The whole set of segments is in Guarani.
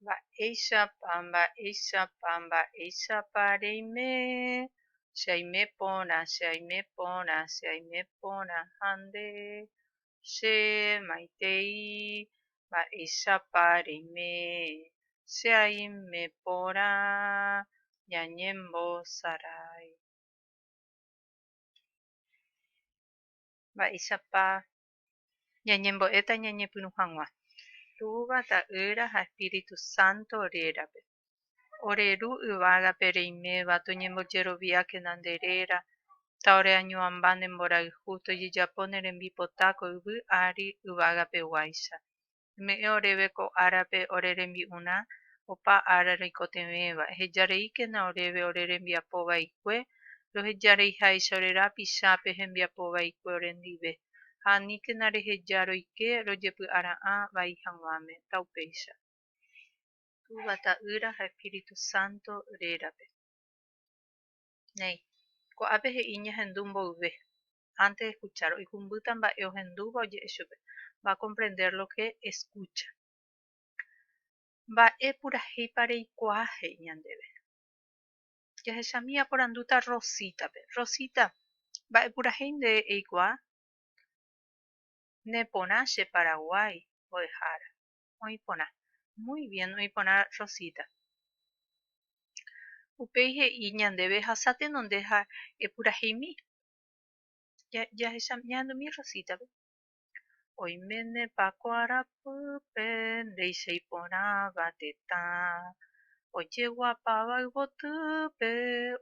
Mba'éichapa, mba'éichapa, mba'éichapa reime, che aime porã, che aime porã, che aime porã ha nde, che maitei, mba'éichapa reime, che aime porã ñañembosarái. Mba'éichapa Ñañembo'éta ñañepyrũ hag̃ua Túva, Ta'ýra ha Espíritu Santo rérape. Ore Ru yvágape reiméva toñembojeroviákena nde réra, ta ore añuãmba ne mborayhu tojejapo ne rembipota ko yvy ári yvágapeguáicha. Eme'ẽ oréve ko árape ore rembi'urã opa ára roikotevẽva, eheja reíkena oréve ore rembiapo vaikue, roheja reiháicha ore rapichápe hembiapo vaikue orendive, ha aníkena reheja roike rojepy'ara'ã vai haguãme, taupéicha. Túva, Ta'ýra ha Espíritu Santo rérape. Néi. Ko'ápe he'i ñahendu mboyve. antes de escuchar, oikumbýta mba'e ohendúva oje'e chupe, va a comprender lo que escucha. Mba'e purahéipa reikuaa he'i ñandéve? Jahechami aporandúta Rosita-pe, Rosita, mba'e purahéi nde eikuaa? Ne porã che Paraguái mbo'ehára. oĩ porã. Muy bien oĩ porã Rosita. Upéi he'i ñandéve ehasa tenonde ha epuraheimi. Jahecha ñahendumi Rosita-pe. Oiménepa ko arapýpe ndéicha iporãva tetã, ojeguapáva yvotýpe,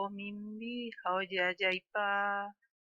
omimbi ha ojeajaipa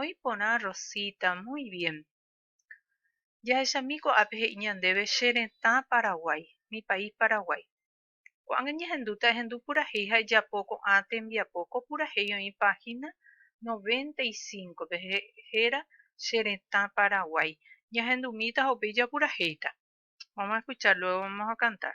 Oĩ porã Rosita, muy bien. Jahechami ko'ápe he'i ñandéve che retã Paraguái, mi país Paraguái. Ko'ág̃a ñahendúta ehendu purahéi ha ejapo ko'ã tembiapo, ko purahéi oĩ página noventa y cinco-pe héra che retã Paraguái. Ñahendumíta ha upéi japurahéita. Vamos a escuchar, luego vamos a cantar.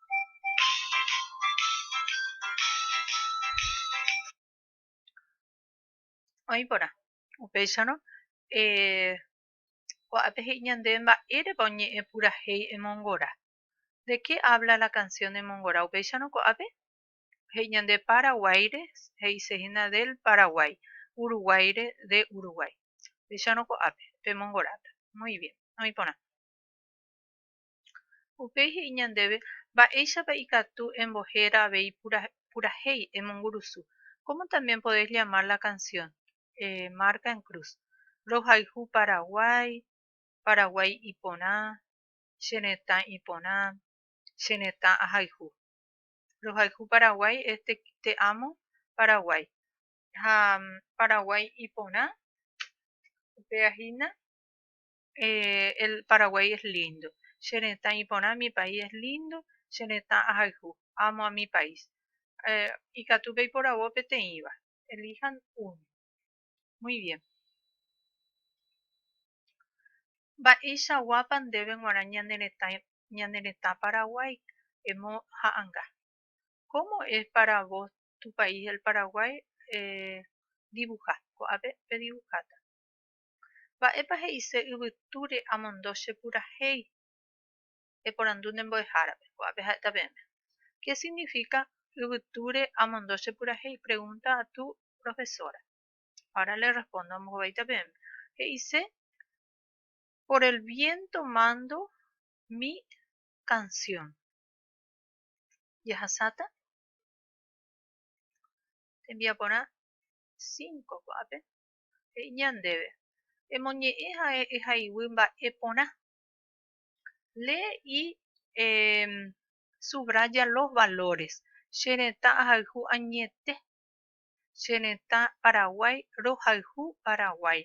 Oĩ porã. Upéicharõ, eh, ko'ápe he'i ñande mba'érepa oñe'ẽ purahéi emongora. De qué habla la canción emongora? Upéicharõ ko'ápe he'i ñande Paraguáire he'isehína del Paraguái, Uruguáire de Uruguái. Upéicharõ ko'ápe pemongorata. Muy bien. Oĩ porã. Upéi he'i ñandéve mba'éichapa ikatu embohéra avei purahéi emongurusu, Cómo también podéis llamar la canción? Marca en cruz, Rohayhu Paraguái, Paraguái iporã, Che retã iporã, Che retã ahayhu. Rohayhu Paraguái es Te amo Paraguái. Ha Paraguái iporã, upéva hína eh, el Paraguay es lindo. Che retã iporã, mi país es lindo, che retã ahayhu, amo a mi país. Eh, ikatu peiporavo peteĩva. Elijan uno. Muy bien. Mba'eichaguápa ndéve g̃uarã ñane retã, ñane retã Paraguay emo ha'anga. Cómo es para vos tu país el Paraguay? Eh, dibuja. Ko'ápe pedibuháta. Mba'épa he'ise yvytúre amondo che purahéi? Eporandu ne mbo'ehárape, ko'ápe ha'éta peẽme. Ke signifika yvytúre amondo che purahéi? pregunta atu profesora. Ahora le respondo, ambohovaíta peẽme. He'ise por el viento mando mi canción. Jahasáta? Tembiaporã cinco ko'ápe. he'iña ndéve, emoñe'ẽ ha'e ehay'uy mba'e porã. Lee y subraya los valores, che retã ahayhu añete, che retã Paraguay rohayhu Paraguay.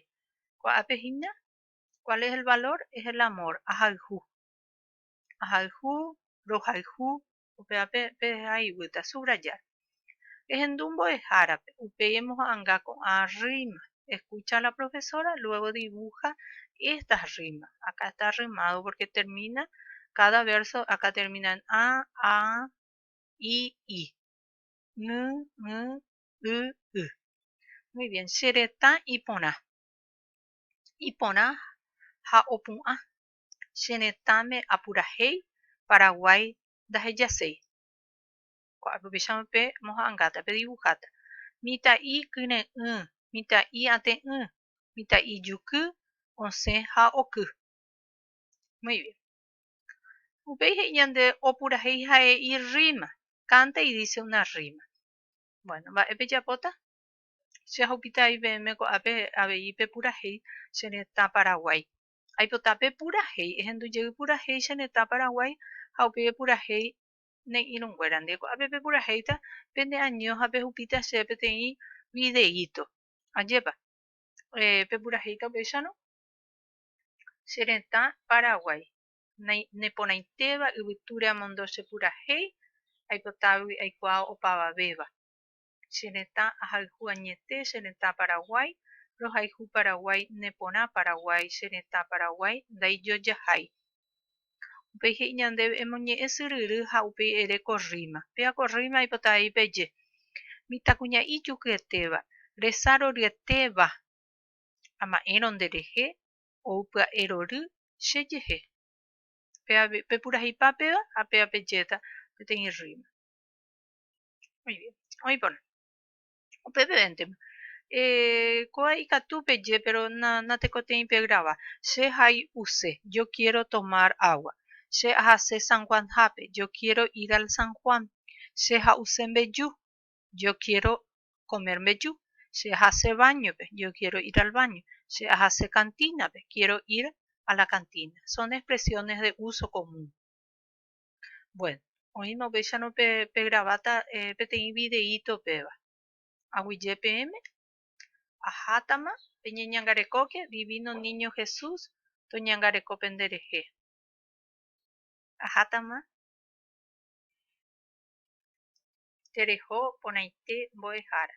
Kua'ápe hína, Cuál es el valor? Es el amor, ahayhu. Ahayhu, rohayhu, Upéva peheja ivýta, subrayar. Ehendu mbo'ehárape, upéi emoha'anga ko'ã rríma, eskucha a la profesora, luego dibuja estas rimas, acá está arrimado porque termina cada verso, acá termina en a, a, i, i, ny, ny, y, y. Muy bien, che retã iporã. Iporã ha opu'ã. che retãme apurahéi Paraguái ndahejaséi. Ko'ápe upéicharõ pe moha'angáta, pe divuháta mitã'i kyre'ỹ, mitã'i ate'ỹ, mitã'i juky osẽ ha oky. Muy bien. Upéi he'i ñande opurahéi ha'e irríma, canta y dice una rima. Bueno, mba'e pejapóta? Che ahupitái peẽme ko'ápe avei pepurahéi che retã Paraguái. Aipota pe purahéi, ehendujey purahéi che retã Paraguái ha upéi epurahéi ne irũnguérandi. Ko'ápe pepurahéita pende año ha pehupíta chéve peteĩ videíto. Ajépa pepurahéita upéicharõ? Che retã Paraguái, neporãitéva yvytúre amondo che purahéi, aipotávagui aikuaa opavavéva. Che retã ahayhu añete che retã Paraguái rohayhu Paraguái ne porã Paraguái che retã Paraguái ndaijojahái Upéi he'i ñandéve emoñe'ẽ syryry ha upéi ere ko rríma péva ko rríma aipota avei peje Mitãkuña'i jukyetéva resa roryetéva ama'ẽrõ nderehe ou pya'e rory che jehe Péva pepurahipa péva ha péva pejéta peteĩ rríma. Muy bien. Oĩporã. Upevevéntema. Eh, koa ikatu peje, pero na, natekotei pe grava. Che hai'use, yo quiero tomar agua. Che ahase San Juan hápe, yo quiero ir al San Juan. Che ha'use mbeju, yo quiero comer mbeju. Che ahase bañope, yo quiero ir al baño. Che ahase cantínape, quiero ir a la cantina. Son expresiones de uso común. Bueno, oĩma upéicharõ pe, pe graváta eh, peteĩ videíto upéva. Aguyje peẽme, ahátama peñeñangarekóke Divino Niño Jesús toñangareko pende rehe. Ahátama tereho porãite mbo'ehára.